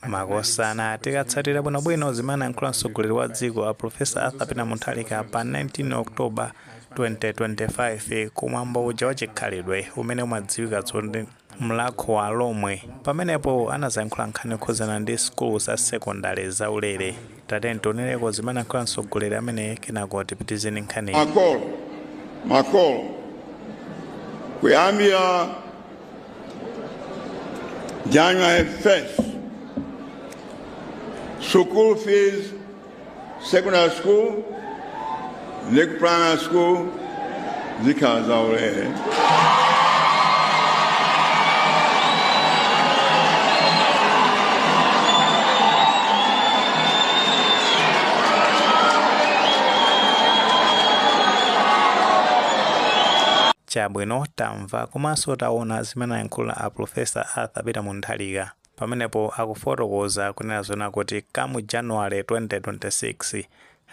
Makosana tikatsatira bwinobwino zimene anayankhula mtsogoleri wa dziko a Professor Arthur Peter Mutharika pa 19 October 2025 kumwambo uja wa chikhalidwe umene umadziwikanso ndi Mlakho wa Alomwe. Pamenepo anazayankhula nkhani yokhudzana ndi sukulu za sekondale zaulere. Tatiyeni tionereko zimene anankhula mtsogoleri ameneyi kenako tipitirize ndi nkhaniyi. Makolo kuyambira January 1st school fees secondary school primary school zikhala zaulere. chabwino tamva komanso taona zimene ayankhula a profesa arthur peter mutharika Pamenepo akufotokoza kunena zoona kuti come January 2026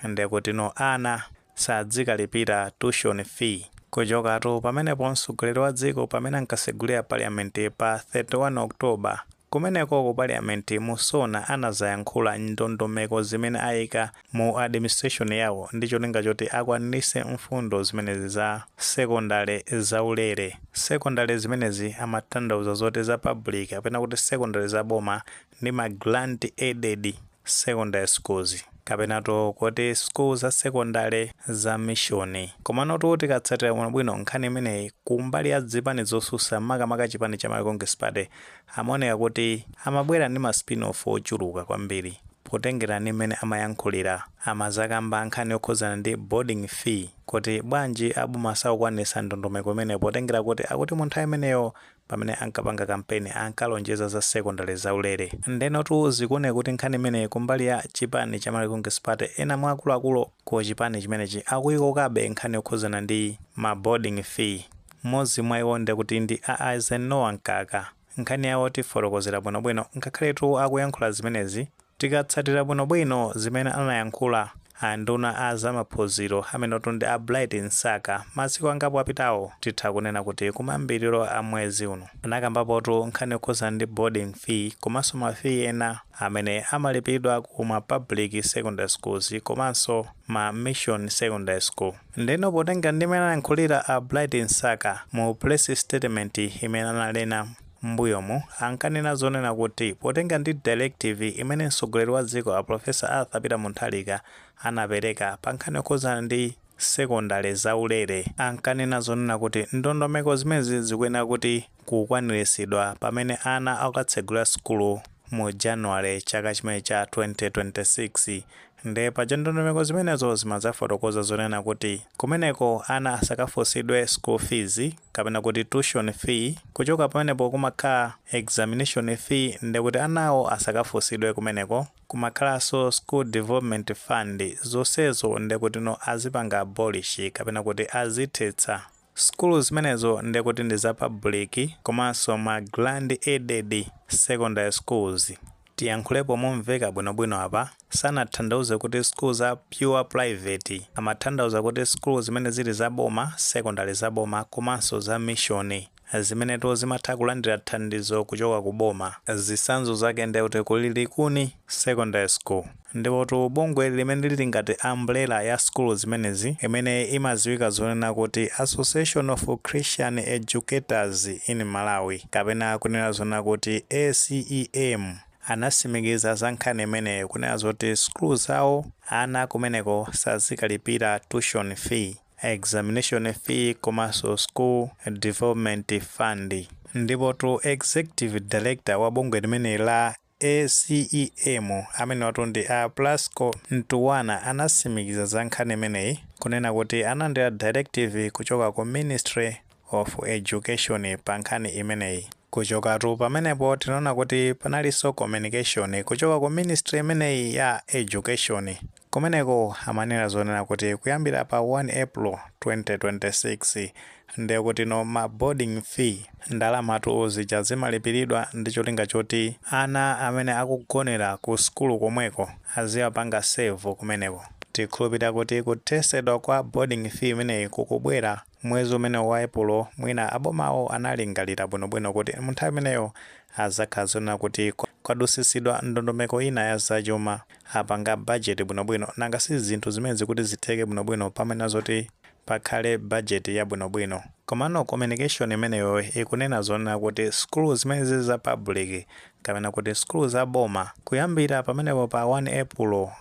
ndekuti ana sadzikalipira tuition fee. Kuchokatu pamenepo mtsogoleri wa dziko pamene ankasegulira parliament pa 31 October kumeneko ku parliament mu Sona anazayankhula ndondomeko zimene ayika mu administration yawo ndi cholinga choti akwaniritse mfundo zimenezi za sekondale zaulere. Sekondale zimenezi amatanthauza zoti za public kapena kuti sekondale za boma ndi ma grant aided secondary schools kapenato kuti school za sekondale za mishoni komanotu tikatsatira bwinobwino nkhani imeneyi kumbali ya zipani zosusa makamaka chipani cha Malawi Congress Party Amaoneka kuti amabwera ndi ma spin-off ochuluka kwambiri potengera ndi mmene amayankhulira. Amazakamba nkhani yokhudzana ndi boarding fee kuti bwanji aboma sakukwanitsa ndondomeko imeneyo potengera kuti akuti mu nthawi imeneyo pamene ankapanga kampeni ankalonjeza za sekondale zaulere. Ndenotu zikuoneka kuti nkhani imeneyi kumbali ya chipani cha Malawi Congress Party ena mwa akuluakulu ku chipani chimenechi akuyikokabe nkhani yokhudzana ndi ma boarding fee. Mmodzi mwa iwo ndekuti ndi a Eisenhower Mkaka. Nkhani yawo tifotokozera bwinobwino ngakhaletu akuyankhula zimenezi tikatsatira bwinobwino zimene anayankhula a nduna a za maphunziro amenotu ndi a Bright Msaka masiku angapo apitawo titha kunena kuti kumayambiriro a mwezi uno anakambapotu nkhani yokhudzana ndi boarding fee komanso ma fee ena amene amalipilidwa ku ma public secondary schools komanso ma mission secondary school. Ndeno potenga ndi mmene anayankhulira a Bright Msaka mu press statement imene analena mmbuyomu ankanena zoona kuti potenga ndi directive imene mtsogoleri wa dziko a Professor Arthur Peter Mutharika anapereka pa nkhani yokhudzana ndi sekondale zaulere ankanena zoona kuti ndondomeko zimenezi zikuyenera kuti kukwaniritsidwa pamene ana akatsegulira sukulu mu January chaka chimene cha 2026 nde paja ndondomeko zimenezo zimadzafotokoza zonena kuti kumeneko ana asakafunsidwe school fees kapena kuti tuition fee kuchoka pamenepo kumakhala examination fee ndekuti anawo asakafunsidwe kumeneko kumakhalanso school development fund zonsezo ndekutino azipanga abolish kapena kuti azithetsa Sukulu zimenezo nde kuti ndi za public komanso ma grant aided secondary schools. Tiyankhulepo momveka bwinobwino apa, sanatanthauze kuti sukulu za pure private, amatanthauza kuti sukulu zimene zili za boma, secondary za boma komanso za mission zimenetu zimatha kulandira thandizo kuchoka ku boma. Zitsanzo zake nde kuti kuli Likuni secondary school. Ndipotu bungwe limene lili ngati umbrella ya sukulu zimenezi, imene imadziwika zonena kuti Association of Christian Educators in Malawi, kapena kunena zonena kuti ACEM, anatsimikiza za nkhani imeneyi kunena zoti sukulu zawo ana akumeneko sazikalipira tuition fee, examination fee komanso school development fund. Ndipotu Executive Director wa bungwe limene la. ACEM amenewatu ndi a Plasco Ntuwana anasimikiza za nkhani imeneyi kunena kuti analandira directive kuchoka ku ministry of education pa nkhani imeneyi. Kuchokatu pamenepo tinaona kuti panalinso communication kuchoka ku ministry imeneyi ya education Kumeneko amanena zonena kuti kuyambira pa 1 April 2026 ndekutino ma boarding fee. Ndalamatu zija zimalipiridwa ndi cholinga choti ana amene akugonera ku sukulu komweko aziwapanga serve kumeneko. Tikhulupirira kuti kuthesedwa kwa boarding fee imeneyi kukubwera. Mwezi umene wa Epulo, mwina abomawo analingalira bwinobwino kuti m'nthawi imeneyo adzakhala zonena kuti kwadusitsidwa ndondomeko ina ya zachuma, apanga bajeti bwinobwino, nanga si zinthu zimenezi kuti zitheke bwinobwino pamayenera zoti pakhale bajeti yabwinobwino. Komano kominikeshoni imeneyo ikunena zonena kuti sukulu zimene zili za pabuliki, kapena kuti sukulu za boma, kuyambira pamenepo pa 1 Epulo,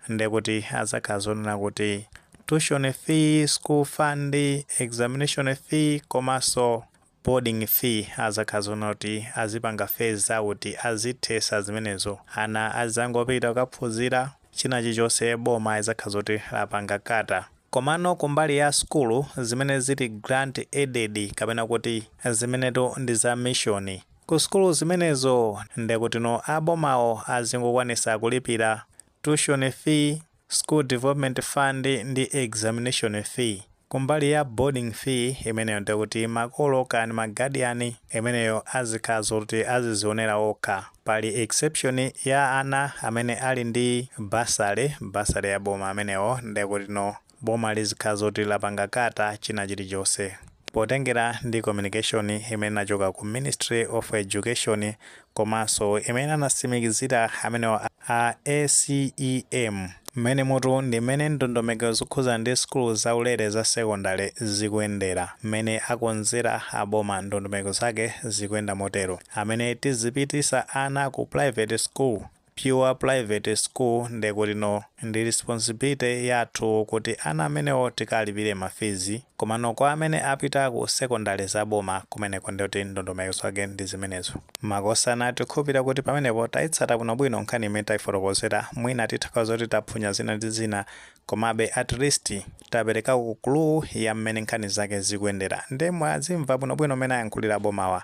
ndekuti azakhala zonena kuti tuition fee, school fund, examination fee komanso boarding fee azakhala zonena kuti azipanga phase out azithesa zimenezo ana azangopita kukaphunzira china chilichonse boma lizakhala zoti lapanga cater komano kumbali ya sukulu zimene zili grant aided kapena kuti zimenetu ndi za mission Ku sukulu zimenezo ndekutino a bomawo azingokwanisa kulipira tuition fee, school development fund ndi examination fee. Kumbali ya boarding fee imeneyo ndekuti makolo kaya ndi ma guardian imeneyo azikhala zoti azizionera okha. Pali exception ya ana amene ali ndi bursary, bursary ya boma amenewo ndekutino boma lizikhala zoti lapanga kata china chilichonse potengera ndi communication imene inachoka ku ministry of education komanso imene anasimikizira amenewa a acem mmene mutu ndi mmene ndondomeko zokhuza ndi sukulu zaulere za sekondale zikuyendera mmene akonzera aboma ndondomeko zake zikuyenda motero amene tizipitisa ana ku private school pure private school nde kuti no, ndi responsibility yathu kuti ana amenewo tikalipire ma fees, komano kwa amene apita ku secondary za boma kumeneko nde kuti ndondomeko zake ndi zimenezo. Makosana tikhulupilira kuti pamenepo tayitsata bwino bwino nkhani imene tayifotokozera, mwina titha kukhala zoti taphunya zina ndi zina komabe at least taperekako clue ya mmene nkhani zake zikuyendera nde mwazimva bwino bwino mmene ayankhulira abomawa,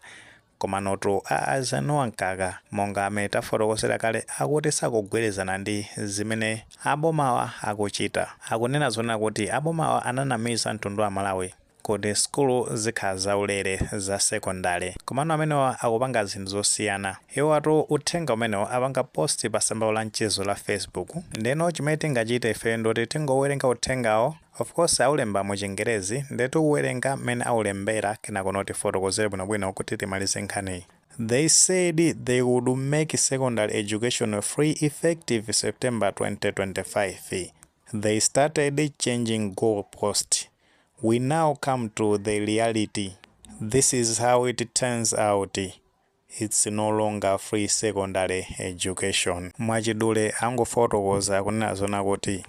Komanotu a Eisenhower Mkaka monga mmene tafotokozera kale akuti sakugwirizana ndi zimene abomawa akuchita. Akunena zonena kuti abomawa ananamiza mtundu wa Amalawi kuti sukulu zikhala zaulere za sekondale. Komano amenewa akupanga zinthu zosiyana. Iwowatu uthenga umenewo apanga post pa tsamba lawo la mchezo la Facebook. Ndeno chimene tingachite ife ndoti tingowerenga uthengawo. Of course aulemba mu chingerezi nde tiuwerenga mmene aulembera kenakono tifotokozere bwinobwino kuti timalize nkhaniyi. They said they would make secondary education free effective September 2025. They started changing goal post. We now come to the reality. This is how it turns out. It's no longer free secondary education. Mwachidule angofotokoza kunena zonena kuti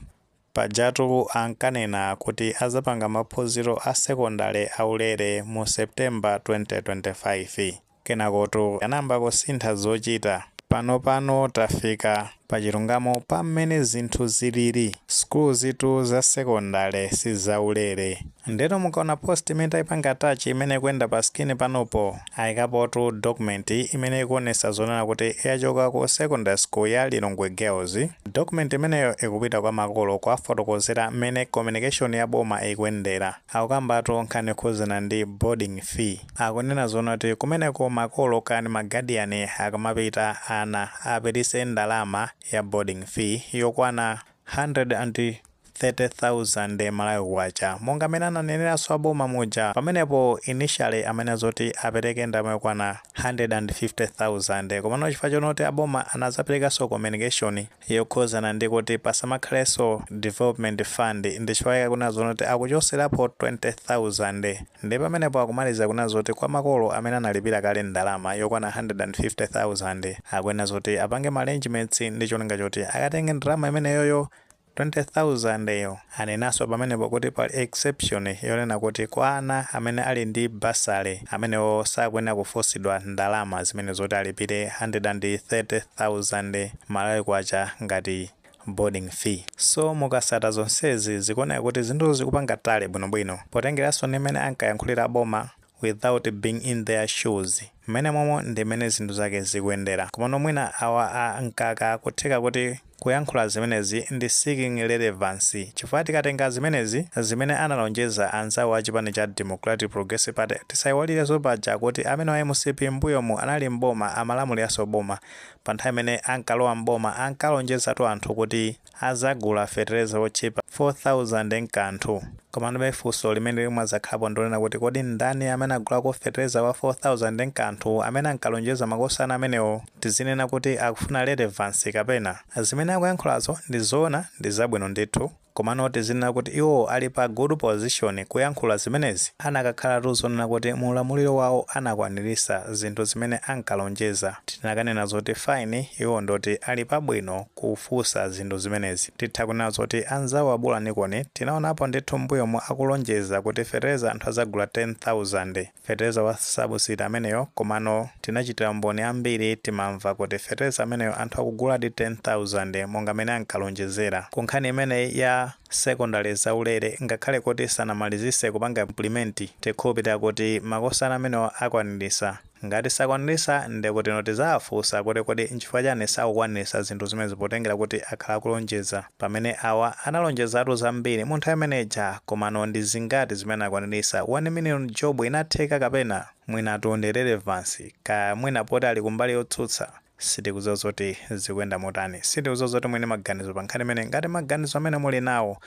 pajatu ankanena kuti azapanga maphunziro a sekondale aulere mu September 2025 kenakotu anayamba kusintha zochita panopano tafika pa chilungamo pa mmene zinthu zilili. Sukuluzitu za sekondale si zaulere. Ndeno mukaona post imene taipanga attach imene ikuyenda pa screen panopo, aikapotu document imene ikuonesa zonena kuti yachoka ku secondary school ya Lilongwe Girls. Document imeneyo ikupita kwa makolo kuwafotokozera mmene communication ya boma ikuyendera. Akukambatu nkhani yokhudzana ndi boarding fee. Akunena zoona kuti kumeneko makolo kani ma guardian akamapita ana apitise ndalama ya boarding fee yokwana 130,000 Malawi kwacha monga mmene ananeneraso a boma muja pamenepo initially amanena zoti apereke ndalama yokwana 150,000 komano chifukwa choona kuti a boma anazapelekaso communication yokhuzana ndi kuti pasamakhalenso development fund ndichifukwa chake akunena zoona kuti akuchoserapo 20,000 ndiye pamenepo akumaliza kunena zoti kwa makolo amene analipira kale ndalama yokwana 150,000 akuyenera zoti apange ma arrangements ndicholinga choti akatenge ndalama imeneyoyo 20,000 yo. Anenanso pamenepo kuti pali exception yonena kuti kwa ana amene ali ndi bursary amenewo sakuyenera kufunsidwa ndalama zimene zoti alipire 130,000 Malawi Kwacha ngati boarding fee. So mukasata zonsezi zikuoneka kuti zinthu zikupanga tally bwinobwino. Potengeranso ndi mmene ankayankhulira a boma without being in their shoes mmenemomo ndi mmene zinthu zake zikuyendera komano mwina awa a Mkaka kutheka kuti kuyankhula zimenezi ndi seeking relevance chifukwa tikatenga zimenezi zimene analonjeza anzawo a chipani cha Democratic Progressive Party tisaiwalirenso paja kuti amenewa a MCP mmbuyomu anali m'boma amalamuliranso boma panthawi imene ankalowa m'boma ankalonjezatu anthu kuti azagula fetereza otchipa 4000 nkanthu. Komanobe funso limene limadzakhalapo ndilonena kuti kodi ndani amene agulako fetereza wa 4000 nkanthu amene ankalonjeza makosana amenewo? Tizinena kuti akufuna relevance kapena? Zimene akuyankhulazo ndizoona ndizabwino ndithu komano tizinena kuti iwo ali pa good position kuyankhula zimenezi? Anakakhalatu zonena kuti mu ulamuliro wawo anakwanilisa zinthu zimene ankalonjeza tinakanena zoti fine iwo ndioti ali pabwino kufunsa zinthu zimenezi. Titha kunena zoti anzawo a Bolanikoni tinaonapo ndithu mmbuyomu akulonjeza kuti fetereza anthu adzagula 10,000. Fetereza wa subsidy ameneyo komano tinachitira umboni ambiri timamva kuti fetereza ameneyo anthu akuguladi 10,000 monga mmene ankalonjezera. Ku nkhani imeneyi ya sekondale zaulere ngakhale kuti sanamalizise kupanga implement tikhulupilira kuti makosana amenewa akwanilisa. Ngati sakwanilisa ndekuti no tizawafusa kuti kodi nchifukwa chani sakukwanilisa zinthu zimenezi potengela kuti akhala akulonjeza pamene awa analonjezatu zambiri mu nthawi imene ija komano ndi zingati zimene anakwanilisa 1 million job inatheka kapena? Mwinatu ndi relevance kaya mwina poti ali kumbali yotsutsa sitikuziwa zoti zikuyenda motani sitikuziwa zoti muli ndi maganizo pankhani imeneyi ngati maganizo amene muli nawo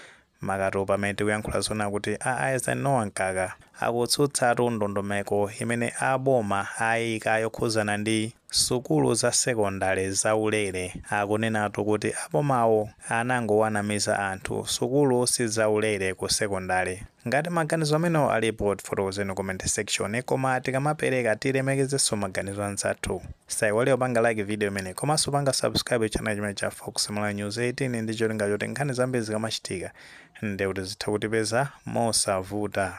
Makatu pamene tikuyankhula zoona kuti a Eisenhower Mkaka akutsutsatu ndondomeko imene a boma ayika yokhuzana ndi Sukulu za sekondale za ulere. Akunenatu kuti a bomawo anangowanamiza anthu, sukulu si za ulere ku sekondale. Ngati maganizo amenewo alipo tifotokozeni comment section koma tikamapereka tilemekezenso maganizo anzathu. Osaiwala kupanga like video imeneyi komanso kupanga subscribe channel chimene cha Fox Malawi News 18 ndi cholinga choti nkhani zambiri zikamachitika ndiye kuti zitha kutipeza mosavuta.